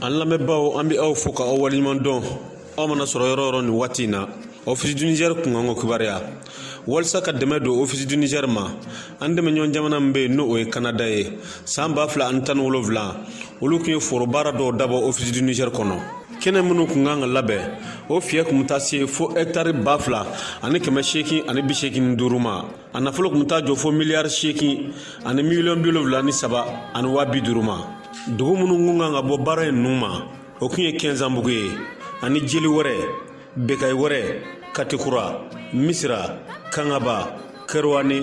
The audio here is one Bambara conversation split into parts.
an lamɛnbaaw an bɛ aw fo ka aw waleɲuman dɔn aw mana sɔrɔ yɔrɔ yɔrɔ nin waati in na office du niger kunkanko kibaruya walisa ka dɛmɛ don ofisi du niger ma an dɛmɛɲɔgɔn jamana min bɛ yen n'o o ye kanada ye san ba fila ani tan ni wolonfila olu kun ye forobaara dɔw dabɔ ofisi du niger kɔnɔ kɛnɛ minnu kun kan ka labɛn o fiyɛ kun bɛ taa se fo hɛktari ba fila ani kɛmɛ seegin ani bi seegin ni duuru ma a nafolo kun bɛ taa jɔ fo miliyari seegin ani miliyɔn bi wolonfila ni saba ani waa bi duuru ma dugu minnu kun kan ka bɔ baara in ninnu ma o kun ye kɛnsanbugu ye ani jeli wɛrɛ bekayi wɛrɛ katikura misira kangaba kɛrowani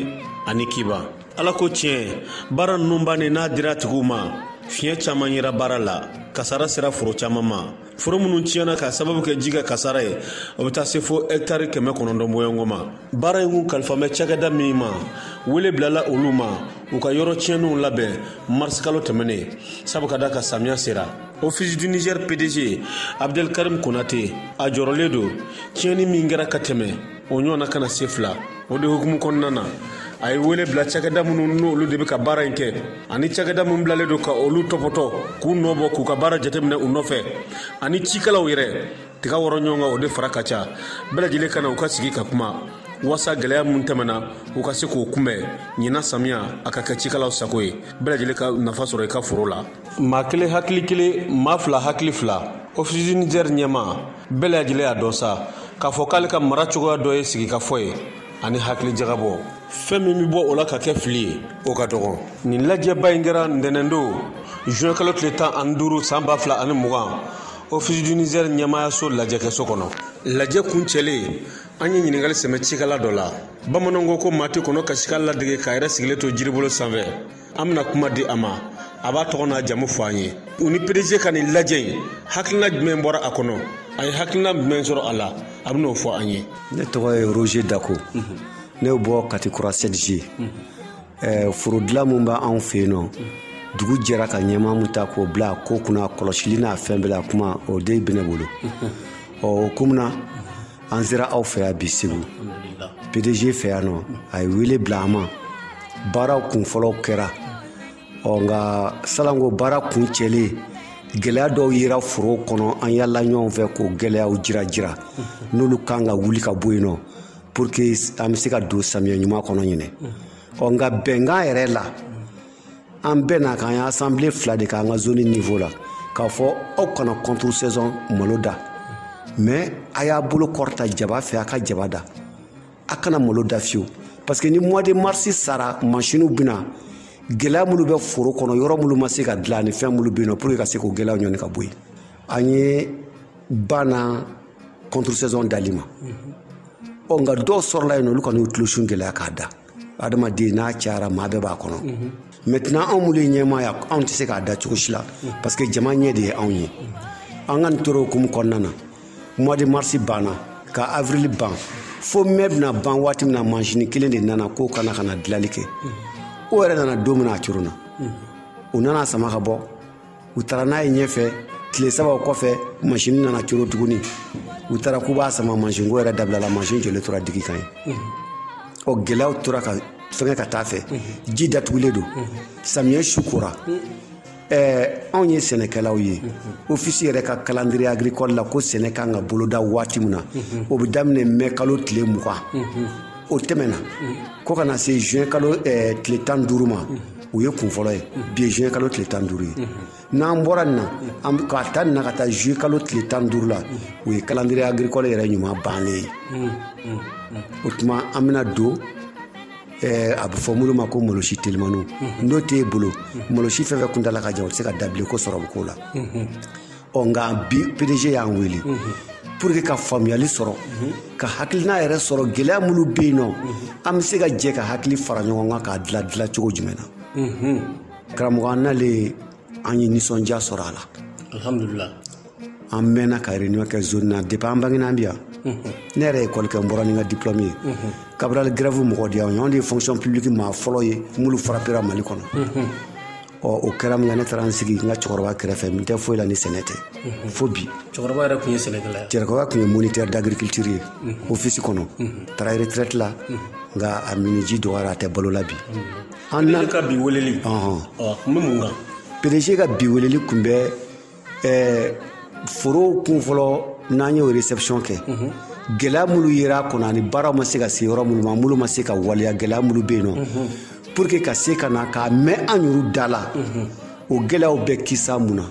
ani kiba ala ko tiɲɛ baara ninnu bannen n'a dira a tigiw ma fiɲɛ caman yera baara la kasara sera foro caman ma foro minnu tiɲɛna k'a sababu kɛ ji ka kasara ye o bɛ taa se fo hɛkitari kɛmɛ kɔnɔntɔn bɔɲɔgɔn ma baara in kun kalifalen bɛ cakɛda min ma wele bilala olu ma u ka yɔrɔ tiɲɛnenw labɛn marisikalo tɛmɛnen sabu ka d'a kan samiya sera office du niger pdg abdelkarim konate a jɔrɔlen don tiɲɛni min kɛra ka tɛmɛ o ɲɔgɔnna kana se fila o de hukumu kɔnɔna na a ye wele bila cakɛda minnu n'olu de bɛ ka baara in kɛ ani cakɛda min bilalen don ka olu tɔpɔtɔ k'u nɔ bɔ k'u ka baara jateminɛ u nɔfɛ ani cikɛlaw yɛrɛ tiga wɔrɔ ɲɔgɔn kan o de fara ka ca bɛɛ lajɛlen ka na u ka sigi ka kuma wasa gɛlɛya minnu tɛmɛna u ka se k'o kunbɛn ɲinan samiya a ka kɛ cikɛlaw sago ye bɛɛ lajɛlen ka nafa sɔrɔ i ka foro la maa kelen hakili kelen maa fila hakili fila ofisi du nizɛr ɲɛmaa bɛɛ lajɛlen y'a dɔn sa k'a fɔ k'ale ka mara cogoya dɔ ye sigikafɔ ye ani hakilijagabɔ fɛn min bɛ bɔ o la ka kɛ fili ye o ka dɔgɔn nin lajɛba in kɛra ntɛnɛndon juin kalo tile tan ani duuru san ba fila ani mugan ofisi du nizɛr ɲɛmaayaso lajɛkɛso kɔnɔ lajɛ kuncɛlen an ye ɲininkali sɛmɛ cikala dɔ la bamananw ko maa tɛ kɔnɔ kasikan ladege k'a yɛrɛ sigilen to jiribolo sanfɛ an bɛna kuma di a ma a b'a tɔgɔ n'a jamu fɔ an ye u ni pdg ka nin lajɛ in hakilina jumɛn bɔra a kɔnɔ a ye hakilina jumɛn sɔrɔ a la a bɛn'o fɔ an ye ne tɔgɔ ye roger dako ne bɔ katikura sept g forodilan min b'anw fɛ yen nɔ dugu jɛra ka ɲɛmaa min ta k'o bila a ko kunna kɔlɔsili n'a fɛn bɛɛ la kuma o de bɛ ne bolo ɔ o hukumu na an sera aw fɛ yan bi segu pdg fɛ yan nɔ a ye wele bila an ma baaraw kunfɔlɔw kɛra ɔ nka salon ko baaraw kuncɛlen gɛlɛya dɔw yera foro kɔnɔ an yala ɲɔgɔn fɛ k'o gɛlɛyaw jira jira n'olu kan ka wuli ka bɔ yen nɔ pour que an bɛ se ka don samiya ɲuman kɔnɔ ɲinɛ ɔ nka bɛnkan yɛrɛ la an bɛɛ na k'an ye assemblée fila de k'an ka zone niveau la k'a fɔ aw kana contre saison malo da mais a y'a bolo kɔrɔta jaba fɛ a ka jaba da a kana malo da fiyewu parce que ni mois de mars sara masiniw bɛna gɛlɛya minnu bɛ foro kɔnɔ yɔrɔ minnu ma se ka dilan ni fɛn minnu bɛ yen nɔ pour que ka se k'o gɛlɛyaw ɲɔni ka bɔ yen an ye banna contre saison dali ma ɔ nka dɔw sɔrɔla yen nɔ olu kɔni y'u tulosun gɛlɛya k'a da adamaden n'a cayara maa bɛɛ b'a kɔnɔ maintenant anw minnu ye ɲɛmaa ye anw tɛ se k'a da cogo si la parce que jama ɲɛ de ye anw ye an ka nin tora o hukumu kɔnɔna na mois de mars banna ka avril ban fo mai bɛna ban waati min na masini kelen de nana ko ka na ka na dilali kɛ o yɛrɛ nana don min na a coronna u nana a sama ka bɔ u taara n'a ye ɲɛfɛ tile saba o kɔfɛ masini nana coro tuguni u taara k'u b'a sama masin ko yɛrɛ dabilala masin jɔlen tora digi kan yen o gɛlɛyaw tora ka fɛngɛ ka taa fɛ ji datugulen don samiyɛ su kora ɛɛ anw ye sɛnɛkɛlaw ye ofisi yɛrɛ ka calendrier agricole la ko sɛnɛ kan ka boloda waati min na o bɛ daminɛ mai kalo tile mugan o tɛmɛna ko ka na se juin kalo tile tan duuru ma o ye kun fɔlɔ ye bi ye juin kalo tile tan duuru ye n'an bɔra nin na k'a ta nin na ka taa juillet kalo tile tan duuru la o ye calendrier agricole yɛrɛ ɲuman bannen ye o tuma an bɛna don Eh, a bɛ fɔ minnu ma ko malosi telimaniw n'o t'e bolo malosi fɛn fɛn kuntala ka jan o tɛ se ka da bilen ko sɔrɔ bɛ k'o la ɔ nka bi PDG y'an wele pour que ka faamuyali sɔrɔ ka hakilina yɛrɛ sɔrɔ gɛlɛya minnu bɛ yen nɔ an bɛ se ka jɛ ka hakili fara ɲɔgɔn kan k'a dila dila cogo jumɛn na karamɔgɔ an nalen an ye nisɔndiya sɔrɔ a la alhamdulillah an mɛnna ka réunion kɛ zone na depuis an bangena an bi yan ne yɛrɛ ye école kɛ n bɔra ni n ka diplôme ye Cabral grève mɔgɔ di yan anw de ye fonction publique maa fɔlɔ ye mulu frappera Mali kɔnɔ ɔ o kɛra minkɛ ne taara n sigi n ka cɛkɔrɔba kɛrɛfɛ n tɛ foyi la ni sɛnɛ tɛ mhm. fo bi cɛkɔrɔba yɛrɛ tun ye sɛnɛkɛla ye cɛkɔrɔba tun ye moniteur d'agriculture ye mhm. ofisi kɔnɔ mhm. taara retraite la nka a miniji dɔgɔyara a tɛ balo la bi an ka bi weleli ɔhɔn kun bɛ mun kan PDG ka bi weleli kun bɛ ɛɛ forow kun fɔlɔ n'an y'o réception kɛ mhm. gɛlɛya minnu yera a kɔnɔ ani baaraw ma se ka se yɔrɔ minnu ma minnu ma se ka waleya gɛlɛya minnu bɛ yen nɔ mhm. pour que ka se ka na k'a mɛn an yɛrɛw da la mhm. o gɛlɛyaw bɛ kisa mun na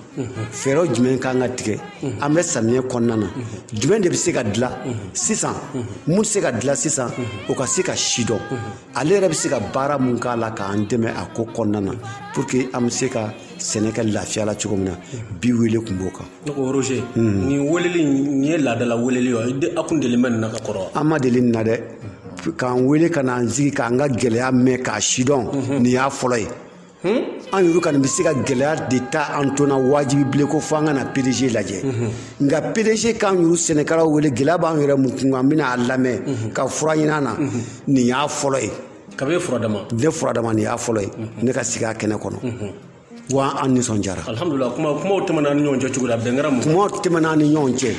fɛɛrɛw jumɛn kan ka tigɛ an bɛ samiyɛ kɔnɔna na jumɛn de bɛ se ka dilan sisan mun tɛ se ka dilan sisan o ka se ka sidɔn ale yɛrɛ bɛ se ka baara mun k'a la k'an dɛmɛ a ko kɔnɔna na pour que an bɛ se ka sɛnɛ kɛ lafiya la cogo min na bi wele tun b'o kan ne ko roger nin weleli nin ye laadala weleli ye wa a kun deli bɛ nin na ka kɔrɔ an ma deli nin na dɛ k'an wele ka n'an sigi k'an ka gɛlɛya mɛn k'a sidɔn nin y'a fɔlɔ ye an yɛrɛ kɔni bɛ se ka gɛlɛya de ta an ton na wajibi bilen ko fo an ka na pdg lajɛ nka pdg k'an yɛrɛ sɛnɛkɛlaw wele gɛlɛya b'an yɛrɛ mun kun kan an bɛna a lamɛn ka fura ɲini an na nin y'a fɔlɔ ye kabi ye fura dama ne fura dama nin y'a fɔlɔ ye ne ka sigi a kɛnɛ kɔnɔ wa an nisɔndiyara alhamdulila kuma kumaw tɛmɛna an ni ɲɔgɔn cɛ cogo la bɛn kɛra mun kumaw tɛmɛna an ni ɲɔgɔn cɛ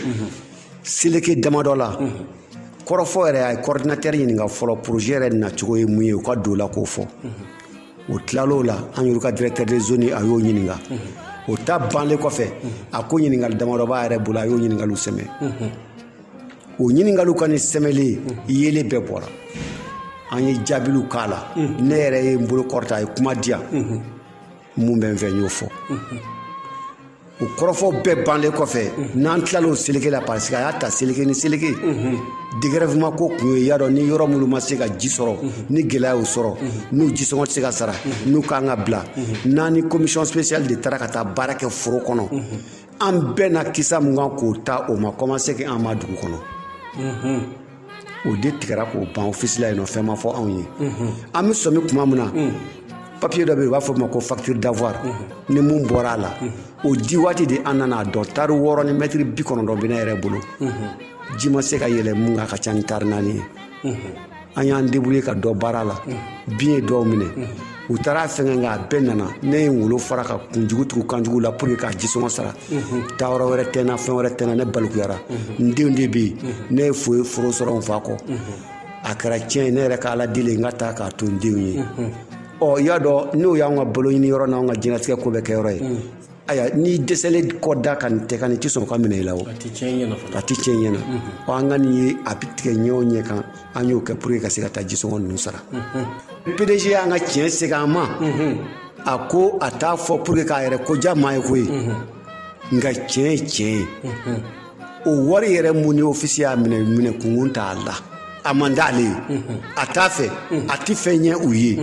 seleke damadɔ la kɔrɔfɔ yɛrɛ a ye kɔridinatɛri ɲininka fɔlɔ porozɛ yɛrɛ nacogo ye mun ye u ka don o la k'o fɔ o tilal'o la an yɛrɛ ka directeur de zone a y'o ɲininka o ta banle kɔfɛ a ko ɲininkali damadɔ b'a yɛrɛ bolo a y'o ɲininkaliw sɛmɛ o ɲininkaliw ka ni sɛmɛli yeelen bɛɛ bɔra an ye jaabiw k'a la ne yɛrɛ ye n bolo kɔrɔta a ye kuma di yan mun bɛ n fɛ n y'o fɔ o kɔrɔfɔ bɛɛ banle kɔfɛ n'an tilal'o seleke la parce que a y'a ta seleke ni seleke dégrèvement ko kun ye y'a dɔn ni yɔrɔ minnu ma se ka ji sɔrɔ ni gɛlɛya y'u sɔrɔ n'u jisɔngɔ tɛ se ka sara n'u kan ka bila n'an ni commission spéciale de taara ka taa baara kɛ foro kɔnɔ an bɛnna kisa mun kan k'o ta o ma kɔmanse kɛ an ma dugu kɔnɔ o de tigɛra k'o ban ofisi la yen nɔ fɛn ma fɔ anw ye an bɛ sɔmi tuma min na papiye dɔ bɛ yen u b'a fɔ o ma ko facture d'avoir ni mun bɔra a la o di waati de an nana a dɔn tari wɔɔrɔ ni mɛtiri bi kɔnɔntɔn bɛ ne yɛrɛ bolo ji ma se ka yɛlɛ mun kan ka ca ni tari naani ye an y'an débrouiller ka dɔ baara la bin ye dɔw minɛ u taara fɛngɛ nka a bɛɛ nana ne ye wolo fara ka kunjugu tugu kanjugu la pour que k'a jisɔngɔ sara taa yɔrɔ wɛrɛ tɛ n na fɛn wɛrɛ tɛ n na ne balikuyara n denw de bɛ yen ne ye foyi foro sɔrɔ n fa kɔ a kɛra tiɲɛ ye ne yɛrɛ ka ala deli n ka taa k'a to n denw ye ɔ i y'a dɔn n'o y'anw ka balo ɲini yɔrɔ n'anw ka diɲɛlatigɛ ko bɛɛ kɛ yɔrɔ ye ayiwa n'i dɛsɛlen kɔ da ka nin tɛ ka nin tɛ sɔrɔ ka minɛ i la o a tɛ tiɲɛ ɲɛna a tɛ tiɲɛ ɲɛna ɔ an ka nin ye a bɛ tigɛ ɲɛ o ɲɛ kan an y'o kɛ pour que ka se ka taa jisɔngɔ ninnu sara pdg y'an ka tiɲɛ segin an ma a ko a t'a fɔ pour que k'a yɛrɛ ko diya maa ye koyi nka tiɲɛ ye tiɲɛ ye o wari yɛrɛ mun ni ofisi y'a minɛ minɛ kun kun t'a la a man d'ale ye a t'a fɛ a tɛ fɛn ɲɛ u ye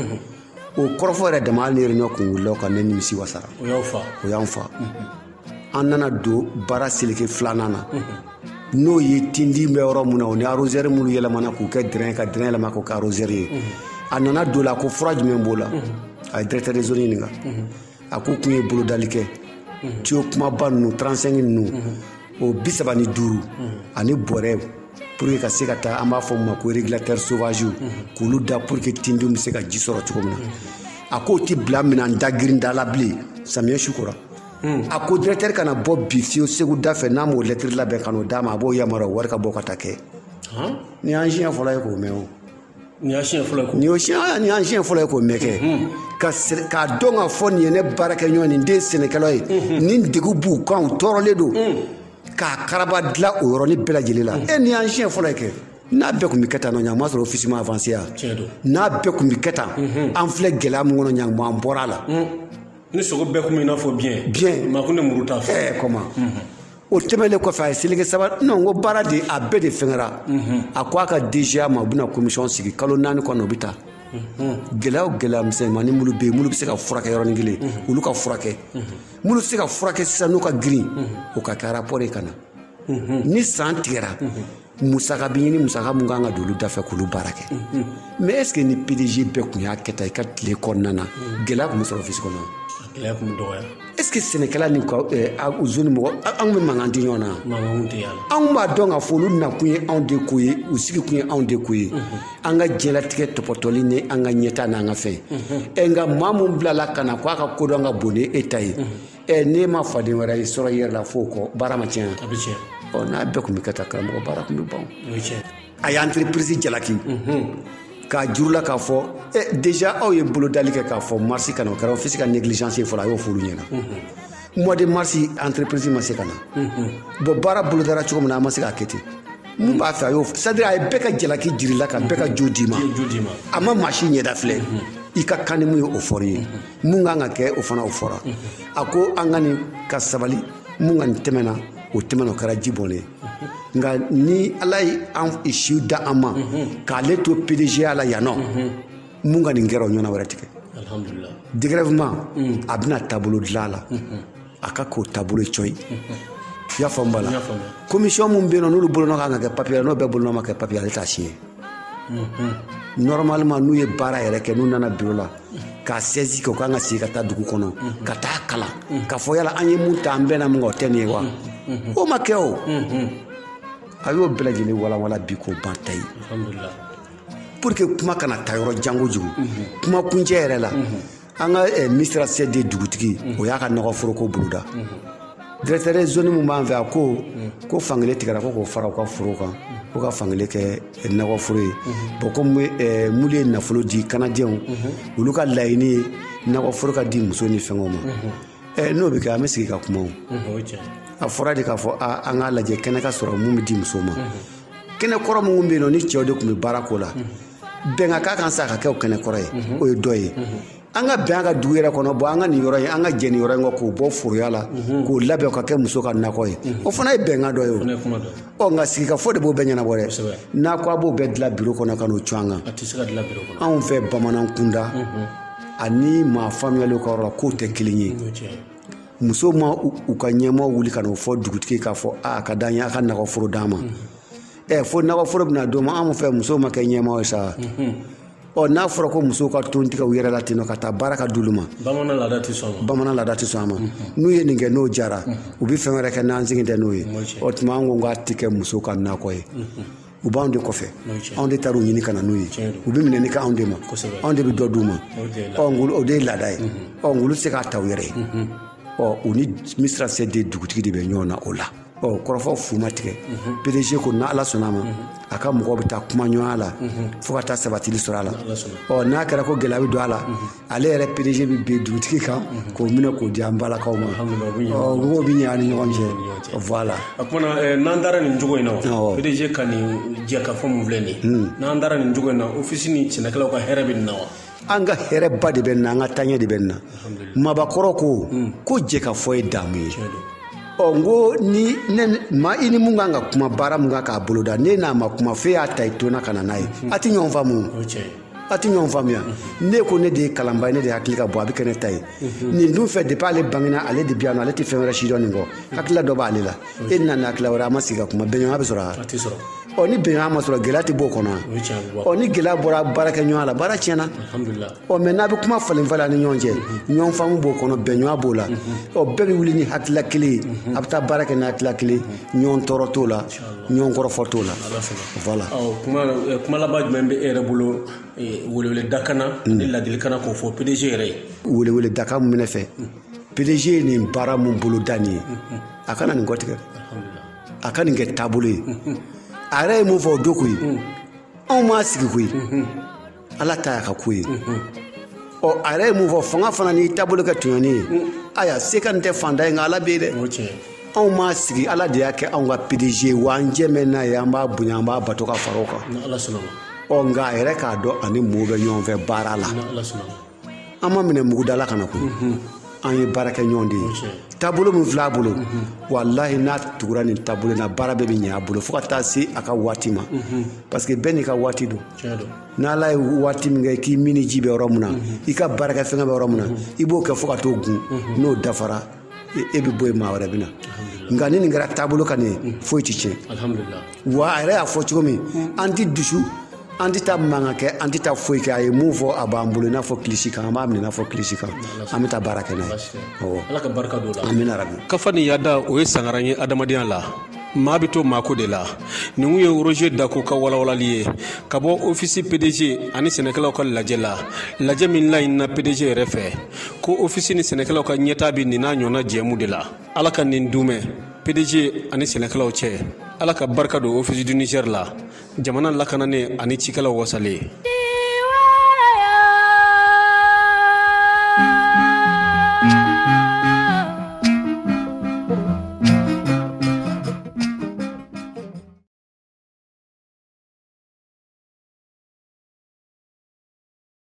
o kɔrɔfɔ yɛrɛ dama hali ni réunion kun wulila o kan ne nimisi wasara o y'aw fa o y'an fa an nana don baara seleke filanan na n'o ye tindin bɛ yɔrɔ min na o ni arosɛri minnu yɛlɛmana k'u kɛ dɛrɛn ka dɛrɛn yɛlɛma k'o kɛ arosɛri ye a nana don o la a ko fura jumɛn b'o la a ye directeur de zone ɲininka a ko kun ye bolodali kɛ tiyo kumaba ninnu 35 ninnu o bi saba ni duuru ani bɔrɛ pour que ka se ka taa an b'a fɔ ma ko régulateur sauvage k'olu da pour que tindiw bɛ se ka ji sɔrɔ cogo min na a k'o ti bila minan da girin da la bilen samiyɛ su kora a ko directeur kana bɔ bi fiyewu segu da fɛ n'a m'o lɛtiri labɛn ka n'o d'a ma a b'o yamaruya wari ka bɔ ka taa kɛ nin y'an siɲɛ fɔlɔ ye k'o mɛn o nin y'a siɲɛ fɔlɔ ye nin y'o siɲɛ nin y'an siɲɛ fɔlɔ ye k'o mɛn kɛ ka sɛ- k'a dɔn k'a fɔ nin ye ne baarakɛɲɔgɔn ni n den sɛnɛkɛlaw ye nin degun b'u kan u tɔɔrɔlen don k'a karaba dilan o yɔrɔnin bɛɛ lajɛlen la e nin y'an siɲɛ fɔlɔ ye kɛ n'a bɛɛ kun bɛ kɛ tan nɔ ɲan ma sɔrɔ ofisi ma avanse yan Tiɲɛ don. n'a bɛɛ kun bɛ kɛ tan an filɛ gɛlɛya min kɔnɔ ɲan an bɔra a la ni sogo bɛɛ kun bɛ i n'a fɔ biyɛn Biyɛn. maa kun tɛ muru t'a fɛ ɛɛ kɔma o tɛmɛnlen kɔfɛ a ye seleke saba non ko baara de a bɛɛ de fɛngɛra a ko a ka DGA ma u bɛna komisɔn sigi kalo naani kɔnɔ u bɛ taa gɛlɛya o gɛlɛya misɛnmanin minnu bɛ yen minnu bɛ se ka furakɛ yɔrɔnin kelen olu ka furakɛ minnu tɛ se ka furakɛ sisan n'u ka girin o ka kɛ arapɔri ye ka na ni san tigɛra musaka bi ɲini musaka mun kan ka don olu dafɛ k'olu baara kɛ mais est-ce que ni pdg bɛɛ kun y'a kɛ tan i ka tile kɔnɔna na gɛlɛya kun bɛ sɔrɔ ofisi kɔnɔ gɛlɛya kun bɛ dɔgɔya est-ce que sɛnɛkɛla ni zoni mɔgɔ anw bɛ mankan di ɲɔgɔn na anw b'a dɔn k'a fɔ olu nakun ye anw de ko ye u sigi kun ye anw de ko ye an ka diɲɛlatigɛ tɔpɔtɔli ni an ka ɲɛtaa n'an ka fɛn ɛ nka maa mun bilala ka na ko a ka kodɔn ka bon ni e ta ye ɛ n'e ma faden wɛrɛ i sɔrɔ i yɛrɛ la f'o kɔ baara ma tiɲɛ a bɛ tiɲɛ ɔ n'a bɛɛ kun bɛ kɛ tan karamɔgɔ baara kun bɛ ban o ye tiɲɛ a ye entreprise jalaki k'a jir'u la k'a fɔ e déjà aw ye bolodali kɛ k'a fɔ marsi ka na o kɛra ofisi ka négligence ye fɔlɔ a y'o f'olu ɲɛna mois de mars entreprise ma se ka na bon baara bolodara cogo min na a ma se k'a kɛ ten mun b'a fɛ a y'o c'est à dire a ye bɛɛ ka jalaki jir'i la ka bɛɛ ka jo d'i ma a ma maa si ɲɛda filɛ i ka kan ni mun ye o fɔr'i ye mun kan ka kɛ o fana o fɔra a ko an ka nin ka sabali mun ka nin tɛmɛna o tɛmɛna o kɛra ji bɔnlen ye nka ni ala ye an siw da an ma k'ale to pdgya la yan nɔ mun ka nin kɛra o ɲɔgɔnna wɛrɛ ti kɛ alhamdulilah dégrèvement a bɛna taabolo dilan a la a ka k'o taabolo ye cɔyi i y'a faamu bala komisiyɔn min bɛ yen nɔ n'olu bolonɔ kan ka kɛ papiye la n'o bɛɛ bolonɔ ma kɛ papiye ale t'a siɲɛ normalement n'u ye baara yɛrɛ kɛ n'u nana biro la k'a sɛzi kɛ u kan ka sigi ka taa dugu kɔnɔ ka taa kalan k'a fɔ yala an ye mun ta an bɛnna min kan o tɛ nin ye wa o ma kɛ o a y'o bɛɛ lajɛlen walawala bi k'o ban ta ye pour que kuma kana taa yɔrɔ jan kojugu kuma kuncɛ yɛrɛ la an ka eh, misira sɛ de dugutigi o y'a ka nakɔ foro ko boloda directeur zone min b'an fɛ a ko ko fankelen tigɛra ko k'o fara u ka foro kan ko ka fankelen kɛ eh, nakɔ foro ye bon komi eh, minnu ye nafolo di kanadiɛnw olu ka laɲini ye nakɔ foro ka di muso ni fɛngɛw ma Eh, n'o bɛ kɛ an bɛ sigi ka kuma o o ye tiɲɛ ye. a fɔra de k'a fɔ a an k'a lajɛ kɛnɛ ka sɔrɔ min bɛ di muso ma kɛnɛ kɔrɔ minnu bɛ yen nɔ ni cɛw de tun bɛ baara k'o la bɛnkan ka kan sa ka kɛ o kɛnɛ kɔrɔ ye mhm. o ye dɔ ye mhm. an ka bɛn an ka dugu yɛrɛ kɔnɔ bon an ka nin yɔrɔ ye an ka jɛ nin yɔrɔ in kɔ k'o bɔ foroya la mhm. k'o labɛn ka kɛ muso ka nakɔ ye o fana ye bɛnkan dɔ ye o ɔ nka sigikafɔ de b'o bɛɛ ɲɛnabɔ dɛ n'a ko a b'o bɛɛ dilan biro kɔnɔ ka n'o cun an kan anw fɛ bamanan kunda ani maa faamuyalenw ka yɔrɔ la kow tɛ kelen ye muso ma u ka ɲɛmaa wuli ka n'o fɔ dugutigi k'a fɔ a ka d'an ye a ka nakɔforo d'an ma ɛ fo nakɔ foro bɛna d'o ma anw fɛ musow ma kɛ ɲɛmaaw ye sa ɔ n'a fɔra ko musow ka ton tigɛ u yɛrɛ la ten nɔ ka taa baara ka d'olu ma bamanan laada tɛ sɔn bamanan laada tɛ sɔn a ma n'u ye nin kɛ n'o diyara u bɛ fɛn wɛrɛ kɛ n'an sigi tɛ n'o ye o tuma an ko k'a tɛ kɛ muso ka nakɔ ye u b'anw de kɔfɛ anw de taara u ɲini ka na n'u ye u bɛ minɛni kɛ anw de ma anw de bɛ dɔ d'u ma ɔ ngolo o de ye laada ye ɔ nk'olu tɛ se k'a ta u yɛrɛ ye ɔ u ni misira sɛ de dugutigi de bɛ ɲɔgɔn na o la ɔ kɔrɔfɔ fu ma tigɛ pdg ko ni ala sɔnna a ma a ka mɔgɔw bɛ taa kuma ɲɔgɔnya la fo ka taa sabatili sɔrɔ a la ɔ n'a kɛra ko gɛlɛya bɛ don a la ale yɛrɛ pdg bɛ bin dugutigi kan k'o minɛ k'o di an balakaw ma ɔ mago bɛ ɲɛ an ni ɲɔgɔn cɛ voilà o kuma na eh, n'an taara nin cogo in na Awɔ. pdg ka nin jɛkafɔ min filɛ nin ye n'an taara nin cogo in na ofisi ni sɛnɛkɛlaw ka hɛrɛ bɛ nin na wa an ka hɛrɛba de bɛ nin na an ka taaɲɛ de bɛ nin na mabakɔrɔ ko hmm. ko jɛkafɔ ye daamu ye ɔ n ko ni maa i ni mun kan ka kuma baara mun kan k'a boloda n'i n'a ma kuma f'e y'a ta i tona ka na n'a ye hmm. a tɛ ɲɔgɔn faamu a tɛ ɲɔgɔn faamuya hmm. ne ko ne de ye kalanbaa ye ne de hakili ka bon a bɛ kɛ ne ta ye nin dun fɛ depuis ale bangena ale de bi yan nɔ ale tɛ fɛn wɛrɛ sidɔn nin kɔ hakilila dɔ b'ale la e nana hakilila wɛrɛ a ma sigi ka kuma bɛnɲɔgɔnya bɛ sɔrɔ a ɔ ni bɛnɲɔgɔnya ma sɔrɔ gɛlɛya tɛ b'o kɔnɔ ɔ ni gɛlɛya bɔra baarakɛɲɔgɔnya la baara tiɲɛna ɔ mɛ n'a bɛ kuma falen falen ni ɲɔgɔn cɛ ɲɔgɔn faamu b'o kɔnɔ bɛnɲɔgɔnya b'o la ɔ bɛɛ bɛ wuli ni hakilila kelen ye a bɛ taa baara kɛ ni hakilila kelen ɲɔgɔn tɔɔrɔ t'o la ɲɔgɔn kɔrɔfɔ t'o la voilà kuma laban jumɛn bɛ e yɛrɛ bolo weleweledakan na ni laadilikan na k'o fɔ pdg yɛrɛ ye weleweledakan min bɛ ne fɛ pdg ye nin baara min boloda nin ye a kana nin kɔtigɛ a ka nin kɛ taabolo ye a yɛrɛ ye mun fɔ o don koyi anw m'a sigi koyi ala ta y'a ka ko ye ɔ a yɛrɛ ye mun fɔ fanga fana n'i taabolo kɛ tɔɲɔni ye aya se ka nin tɛ faantan ye nka ala bɛ yen dɛ anw m'a sigi ala de y'a kɛ anw ka pdg ye wa an jɛn bɛ n'a ye an b'a bonya an b'a bato ka fara o kan ɔ nka a yɛrɛ k'a dɔn a ni mɔɔw bɛ ɲɔgɔn fɛ baara la an ma minɛ mugu da la ka na koyi an ye baarakɛɲɔgɔn de ye taabolo min filɛ a bolo walahi n'a tugura nin taabolo in na baara bɛɛ bɛ ɲɛ a bolo fo ka taa se a ka waati ma parce que bɛɛ n'i ka waati don n'ala ye waati min kɛ k'i minniji bɛ yɔrɔ min na i ka baarakɛfɛngɛ bɛ yɔrɔ min na i b'o kɛ fo ka t'o gun n'o dafara e bɛ bɔ yen maa wɛrɛ bɛ na nka ni nin kɛra taabolo kan nin foyi tɛ tiɲɛ wa a yɛrɛ y'a fɔ cogo min an tɛ dusu an tɛ taa mankan kɛ an tɛ taa foyi kɛ a ye mun fɔ a b'an bolo i n'a fɔ kilisi kan an b'a minɛ i n'a fɔ kilisi kan an bɛ taa baara kɛ n'a ye awɔ ala ka barika don o la amina yarabi kafa ni yada o ye sangaran ye adamadenya la maa bɛ to maako de la nin kun ye roger dako ka walawalali ye ka bɔ ofisi pdg ani sɛnɛkɛlaw ka lajɛ la lajɛ min laɲinina pdg yɛrɛ fɛ ko ofisi ni sɛnɛkɛlaw ka ɲɛtaa bɛ nin n'a ɲɔgɔnna jɛmu de la ala ka nin dumɛ pdg ani sɛnɛkɛlaw cɛ ala ka barika don ofisi du niger la jamana lakananen ani cikɛlaw wasalen